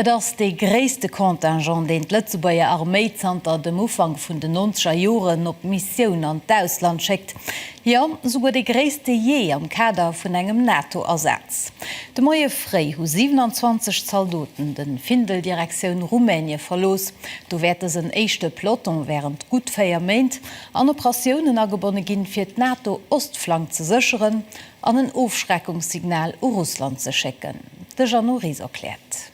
Et ass dee gréisste Contingent, deen d'Lëtzebuerger Arméi zanter dem Ufank vun den nonzeger Joren op Missioun an d'Ausland schéckt. Jo, souguer dee gréisste jee am Kader vun engem NATO-Asaz. De Moie fréi hu 27 Zaldoten de Findel Direktioun Rumänie verlooss. Do wäert dësen éischte Peloton wärend gutt 4 Méint an Operatiounen agebonne ginn, fir d'NATO-Ostflank ze sécheren an en Ofschreckungssignal u Russland ze schécken. De Jeannot Ries erkläert.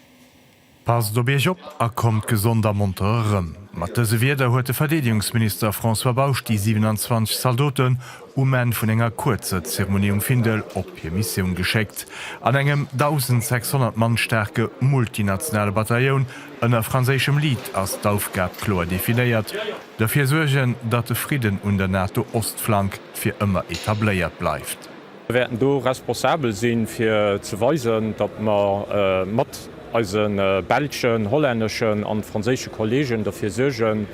Passt op Iech op a kommt gesond a monter erëm. Mat dëse Wierder huet de Verdeedegungsminister François Bausch déi 27 Zaldoten um Enn vun enger kuerzer Zeremonie um Findel op hir Missioun geschéckt. An engem 1.600 Mann staarke multinationale Batailloun ënner franséischem Lead ass d'Aufgab kloer definéiert, Dofir suergen, datt de Fridden un der NATO-Ostflank fir ëmmer etabléiert bleift. Mir wäerten do responsabel sinn, fir ze weisen, datt mer mat eise belschen, hollänneschen an franséische Kolleegen derfir suergen,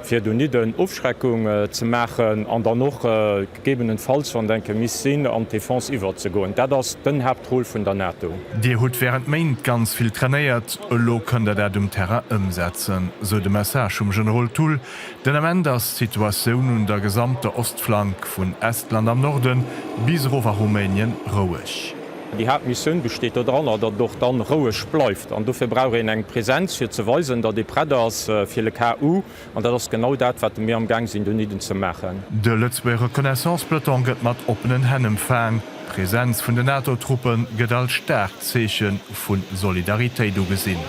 fir donidden Ofschreckung ze maachen an dann och gegebenenfalls, wann et enke misst sinn, an d'Defense iwwerzegoen. Dat ass den Haaptrôle vun der NATO. Dir hutt während Méint ganz vill trainéiert, elo kënnt Der dat um Terrain ëmsetzen, sou de Message vum Generol Thull Den Ament ass d'Situatioun un der gesamter Ostflank, vun Estland am Norde bis erof a Rumänien, roueg. Déi Haaptmissioun besteet doranner, datt et och dann roueg bleift. An dofir brauch een eng Presenz, fir ze weisen, datt ee prett ass fir le cas où. An dat ass genau dat, wat mir amgaang sinn, donieden ze maachen. De Lëtzebuerger Reconnaissance-Peloton gëtt mat oppenen Hänn empfaang. D'Presenz vun de NATO-Truppe gëtt als staarkt Zeeche vu Solidaritéit ugesinn.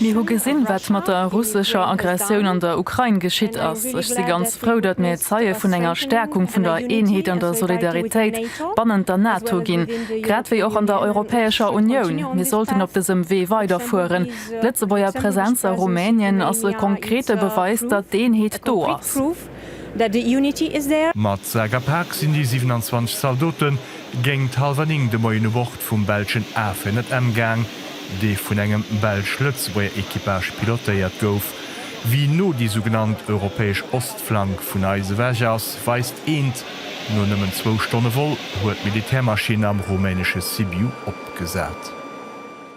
Mir hu gesinn, wat mat der russescher Aggressioun an der Ukrain geschitt ass. Ech si ganz frou, datt mir Zeie vun enger Stäerkung vun der Eenheet an der Solidaritéit bannent der NATO ginn, grad wéi och an der Europäescher Unioun. Mir sollten op dësem Wee weiderfueren. D'Lëtzebuerger Presenz a Rumänien ass e konkrete Beweis, datt d'Eenheet do ass. that the unity is there. Mat Sak a Pak sinn déi 27 Zaldote géingt hallwer 9 de Moien u Bord vum belschen A400M gaang, dee vun engem belsch-Lëtzebuerger Equipage pilotéiert gouf. Wéi no déi sougenannt europäesch Ostflank vun eis ewech ass, weist eent, No nëmmen zwou Stonne Vol huet d'Militärmaschinn am rumänesche Sibiu opgesat.